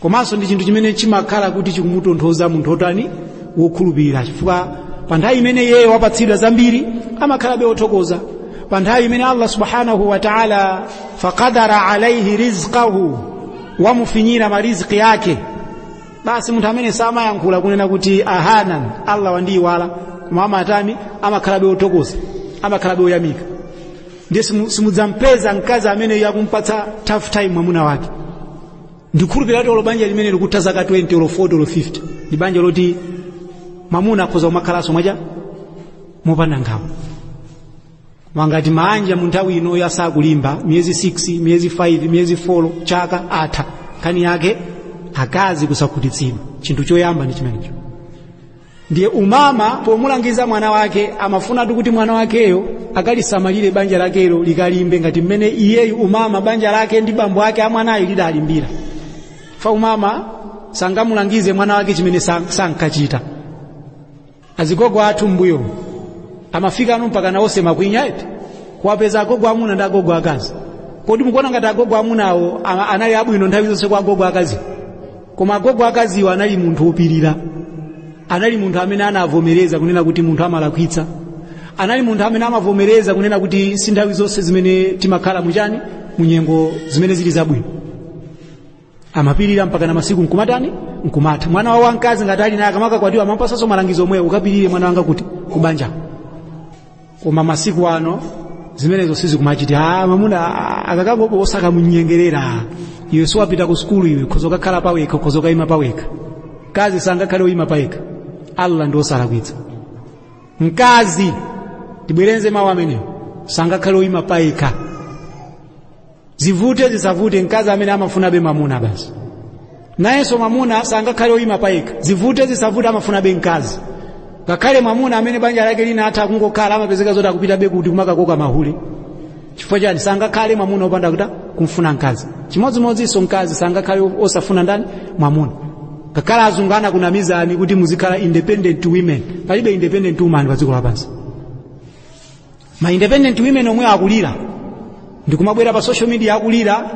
komanso ndi chinthu chimene chimakhala kuti chikumutonthoza munthu otani wokhulupirira chifukwa pa nthawi imene iye wapatsidwa zambiri amakhalabe wothokoza pa nthawi imene allah subhanahu wa taala faqadara alaihi rizqahu wamufinyira mariziki ake basi munthu ameneyo samayankhula kunena kuti ahanan allah wandiyiwala koma amatani amakhalabe wothokoza amakhalabe woyamika ndiye simudzampeza mkazi amene akumpatsa tough time mwamuna wake ndikhulupirira kuti olo banja limene likutha zaka 20 olo 40 olo 50 ndi banja loti mamuna akhoza kumakhalanso mwaja mopanda nkhawa koma ngati maanja mu nthawi inoyo asakulimba miyezi 6 miyezi 5 miyezi 4 chaka atha nkhani yake akazi kusakhutitsidwa chinthu choyamba ndi chimenecho ndiye umama pomulangiza mwana wake amafunatu kuti mwana wakeyo akalisamalire banja lakelo likalimbe ngati mmene iyeyu umama banja lake ndi bambo ake a mwanayo lidalimbira fa umama sangamulangize mwana wake chimene san- sankachita azigogo athu mbuyo amafikanu mpaka naonse makwinya eti kuwapeza agogo amuna ndi agogo akazi kodi mukuona ngati agogo amunawo ama- anali abwino nthawi zonse kwa agogo akazi koma agogo akaziwo anali munthu wopirira anali munthu amene anavomereza kunena kuti munthu amalakwitsa anali munthu amene amavomereza kunena kuti si nthawi zonse zimene timakhala muchani munyengo zimene zili zabwino amapirira mpaka na masiku nkumatani nkumatha mwana wawo wamkazi ngati ali naye akamakakwatiwa amampatsanso malangizo omwewo ukapirire mwana wanga kuti kubanja koma masiku ano zimenezo sizikumachitika ah mamuna akakangopo osakamunyengerera iwe siwapita ku sukulu iwe khoza ukakhala pawekha khoza ukayima pawekha mkazi sangakhale oyima payekha allah ndi osalakwitsa mkazi ndibwereze mawu amenewo sangakhale oyima payekha zivute zisavute mkazi ameneyo amafunabe mamuna basi nayenso mamuna sangakhale oyima payekha zivute zisavute amafunabe mkazi ngakhale mamuna amene banja lake linatha kungokhala amapezeka zoti akupitabe kuti kumakakoka mahule chifukwa chani sangakhale mamuna opanda kutani kumfuna mkazi chimodzimodzinso mkazi sangakhale osafuna ndani mamuna ngakhale azungu anakunamizani kuti muzikhala independent women palibe independent woman pa dziko lapansi ma independent women omwe akulira ndikumabwera pa social media akulira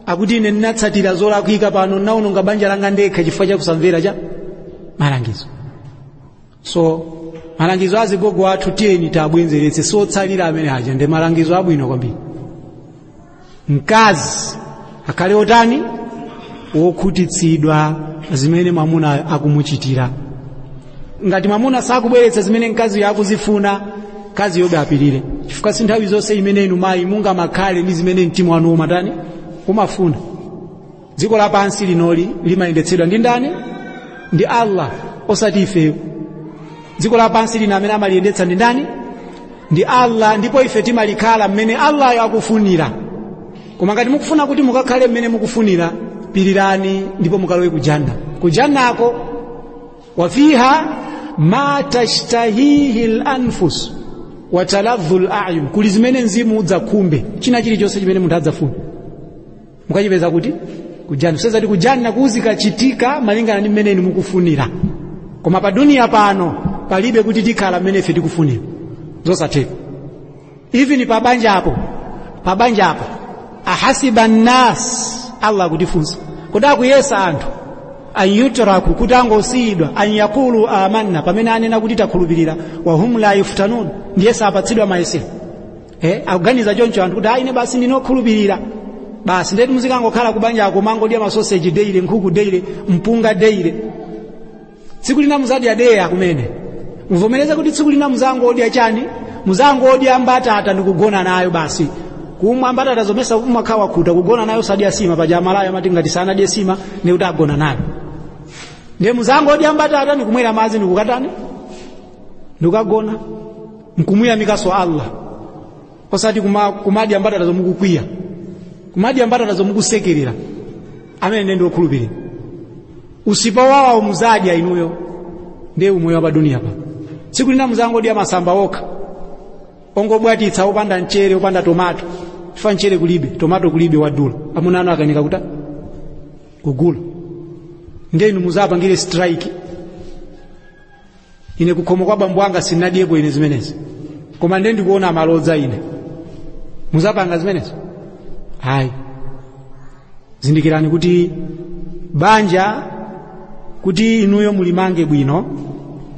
akuti ine ndinatsatira zolakwika pano ndinaononga banja langa ndekha chifukwa cha kusamvera cha malangizo so malangizo azigogo athu tiyeni tiabwenzeretse si otsalira amene aja ndi malangizo abwino kwambiri mkazi akhale otani wokhutitsidwa zimene mwamuna akumuchitira ngati mwamuna sakubweretsa zimene mkaziyo akuzifuna mkaziyobe apirire chifukwa si nthawi zonse imene inu mayi mungamakhale ndi zimene mtima wanu umatani umafuna dziko lapansi linoli limayendetsedwa ndi ndani ndi allah osati ifeyo dziko lapansi lino amene amaliyendetsa ndi ndani ndi allah ndipo ife timalikhala mmene allayo akufunira koma ngati mukufuna kuti mukakhale mmene mukufunira pirirani ndipo mukalowe kujanna kujannako wafiha ma tashtahihi lanfus wataladhu layun kuli zimene mzimu udzakhumbe china chilichonse chimene munthu adzafuna mukachipeza kuti kujanna kusonyeza kuti kujanna kuzikachitika malingana ndi mmene inu mukufunira koma pa duniya pano palibe kuti tikhala mmene ife tikufunira zosatheka even pa banjapo ahasiba nnas allah akutifunsa kodi akuyesa anthu an yutraku kuti angosiyidwa an yakulu amanna pamene anena kuti takhulupirira wahum la yuftanun ndiye sapatsidwa mayesero eh, akuganiza choncho anthu kuti ayi ine basi ndine okhulupirira basi ndeti muzikangokhala kubanjako kumangodya masoseji daily nkhuku daily mpunga daily tsiku lina muzadya deya kumene muvomereze kuti tsiku lina muzangodya chani muzangodya mbatata ndikugona nayo basi koma mbatatazo mesa umakhala wakhuta kugona nayo osadya sima paja amalawi amati ngati sanadye sima ndiye kuti agona nayo ndiye muzangodya mbatata ndikumwera madzi ndikukatani ndikukagona nkumuyamikanso allah osati kuma- kumadya mbatatazo mukukwiya kumadya mbatatazo mukusekerera amene ndiye ndi okhulupirira usipa wowawa muzadya inuyo ndiye umoyo wa pa duniyapa tsiku lina muzangodya masamba okha ongobwatitsa opanda mchere opanda tomato chifukwa mchere kulibe tomato kulibe wadula amuna anu akanika kutani kugula ndiye inu muzapangire strike ine kukhomo kwa bambo anga sinadyepo ine zimenezi koma ndiye ndikuona malodza ine muzapanga zimenezo ayi zindikirani kuti banja kuti inuyo mulimange bwino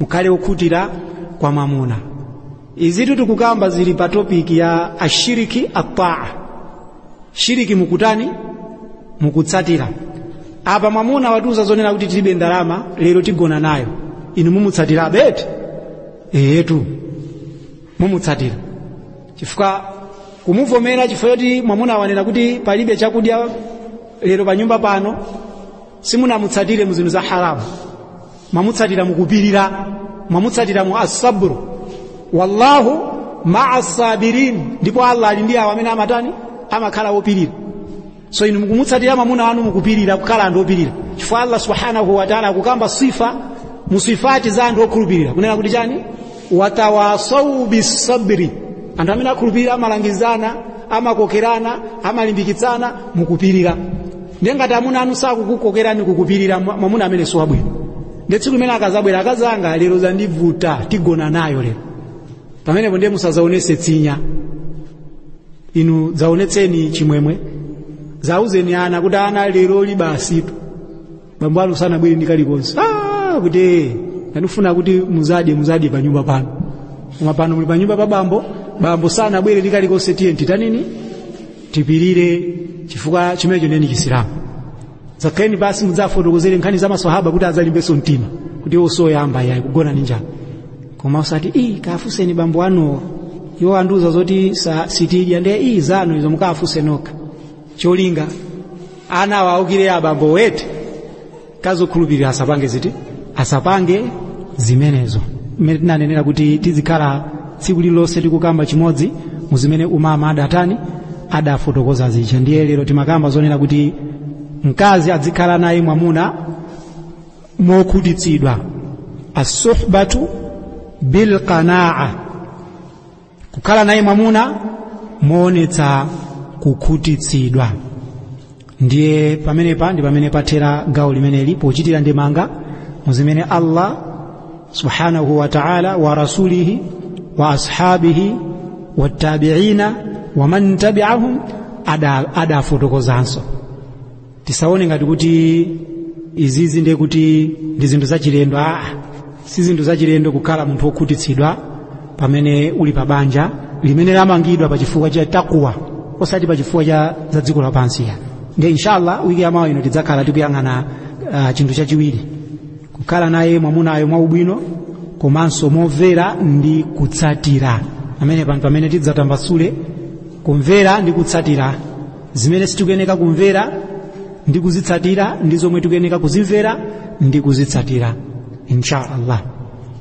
mukhale okhutira kwa mwamuna izitu tikukamba zili pa topiki ya ashiriki ataa shiriki mukutani mukutsatira apa mwamuna watiuza zonena kuti tilibe ndalama lero tigona nayo inu mumutsatira beti eyetu mumutsatira chifukwa kumuvomera chifukwa choti mwamuna wanena kuti palibe chakudya lero pa nyumba pano simunamutsatire mu zinthu za haramu mwamutsatira mukupirira mwamutsatira mu asabru wallahu maa sabirin ndipo allah ali ndi awo amene amatani amakhala opirira so inu mukumutsatira mwamuna wanu mukupirira kukhala anthu opirira chifukwa allah subhanahu wataala akukamba sifa musifati za anthu okhulupirira kunena kuti chani watawasau bisabri anthu amene akhulupirira amalangizana amakokerana amalimbikitsana mukupirira ndiye ngati amuna anu sakukukokerani kukupirira mwamuna amene si wabwino ndiye tsiku limene akazabwera akazi anga lero zandivuta tigona nayo lero pamenepo ndiye musazaonese tsinya inu zaonetseni chimwemwe zauzeni ana kuti ana lero libasitu bambo anu sanabwere ndi kalikonse ah, kuti "Eh, ndikufuna kuti muzadye muzadye pa nyumba pano koma pano muli pa nyumba pa bambo bambo sanabwere ndi kalikonse tiye titanini tipirire chifukwa chimenecho ndiye ndi chisilamu zakheni basi mudzafotokozere nkhani za maswahaba kuti adzalimbenso mtima kuti iwo si oyamba yayi kugona ndi njala koma usati ii kawafunseni bambo anuwo iwo andiuza zoti sa- sitidya ndiye ii zanu izo mukawafunse nokha cholinga ana awaukire abambo mkazi wokhulupirira asapange ziti asapange zimenezo mmene tinanenera kuti tizikhala tsiku lililonse tikukamba chimodzi mu zimene umama adatani adafotokoza zija ndiye lero timakamba zonena kuti mkazi adzikhala naye mwamuna mokhutitsidwa asuhbatu bilqanaa kukhala naye mwamuna moonetsa kukhutitsidwa ndiye pamenepa ndi pamene pathera gawo limeneli pochitira ndemanga mu zimene allah subhanahu wa taala wa rasulihi wa ashabihi wattabiina waman tabiahum adafotokozanso tisaone ngati kuti izizi ndiye kuti ndi zinthu zachilendo aa si zinthu zachilendo kukhala munthu wokhutitsidwa pamene uli pa banja limene lamangidwa pa chifukwa cha takwa osati pa chifukwa cha za dziko lapansi ya ndiye inshallah wiki ya mawa ino tidzakhala tikuyang'ana uh, chinthu chachiwiri kukhala naye mwamunayo mwaubwino komanso momvera ndi kutsatira amene pano pamene tidzatambasule kumvera ndi kutsatira zimene sitikuyeneka kumvera ndi kuzitsatira ndi zomwe tikuyeneka kuzimvera ndi kuzitsatira insha allah